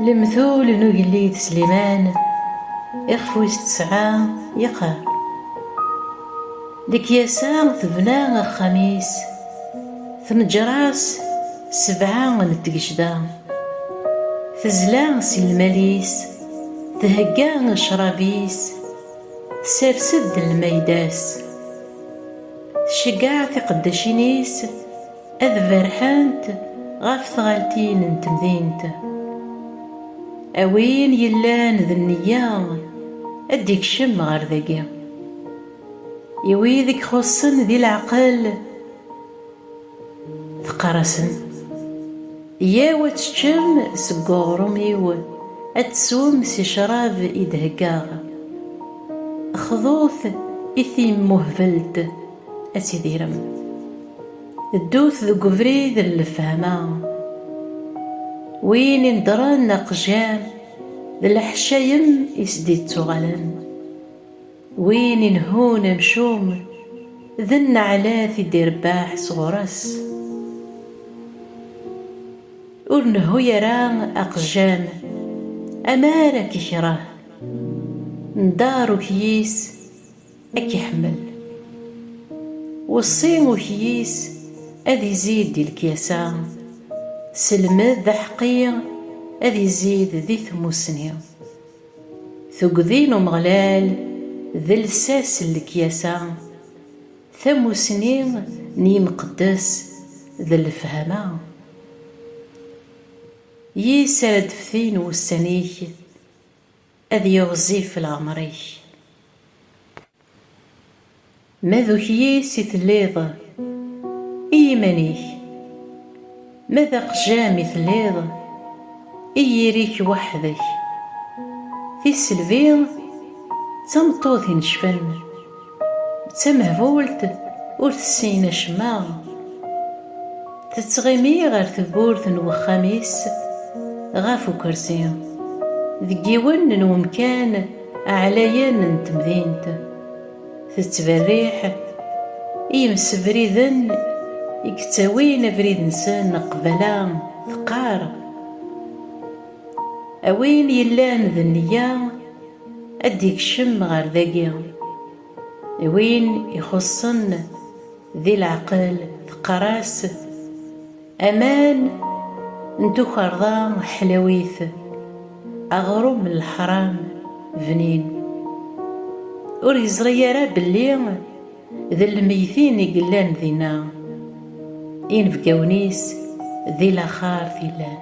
Lemtul n ugellid Sliman ixef wis tesɛa yeqqar lekyasa tebna axxam-is tneǧǧer-as sebɛa n tgecda tezla s lmal-is thegga ccrab-is tsers-d lmayda-s Tceggeɛ tiqeddacin-is ad berrḥent ɣef tɣaltin n temdint. A win yellan d nneyya ad d-ikcem ɣer dagi. I wid i ixuṣṣen di leɛqel. Teqqar-asen, Yyaw ad teččem seg uɣrum-iw, ad teswem si ccrab i d-heggaɣ. Xḍut i timmuhbelt, ad tidirem. Ddut deg ubrid n lefhama. Win ineddren aqejjam, d leḥcayem i s-d-ittuɣalen. Win inehhun amcum, d nneɛlat i d-irebbeḥ sɣur-s. Ur nehhu ara aqejjam, amar ad k-ikreh, ndeṛ ukyis ad k-iḥemmel. Weṣṣi ukyis ad izid di lekyasa, selmed aḥeqqi ad izid di tmussni. Tuggdi n Umeɣlal d lsas n lekyasa, tamussni n yimqeddes d lefhama. Yis ara d-ftin wussan-ik, ad yiɣzif leɛmer-ik. Ma d ukyis i telliḍ i yiman-ik, ma d aqjam i telliḍ i yiri-k weḥd-k. Tisselbi d tameṭṭut inecfen, d tamehbult ur tessin acemma. Tettɣimi ɣer tewwurt n wexxam-is ɣef ukersi, deg yiwen n wemkan, Aɛlayen n temdint tettberriḥ i yimsebriden i yettawin abrid-nsen qbala teqqar, A win yellan d neyya ad d-ikcem ɣer dagi, i win ixuṣṣen di leɛqel teqqar-as, Aman n tukerḍa ḥlawit, aɣrum n leḥram bnin. Ur yeẓri ara belli d lmeytin i yellan dinna, inebgawen-is di laxert i llan.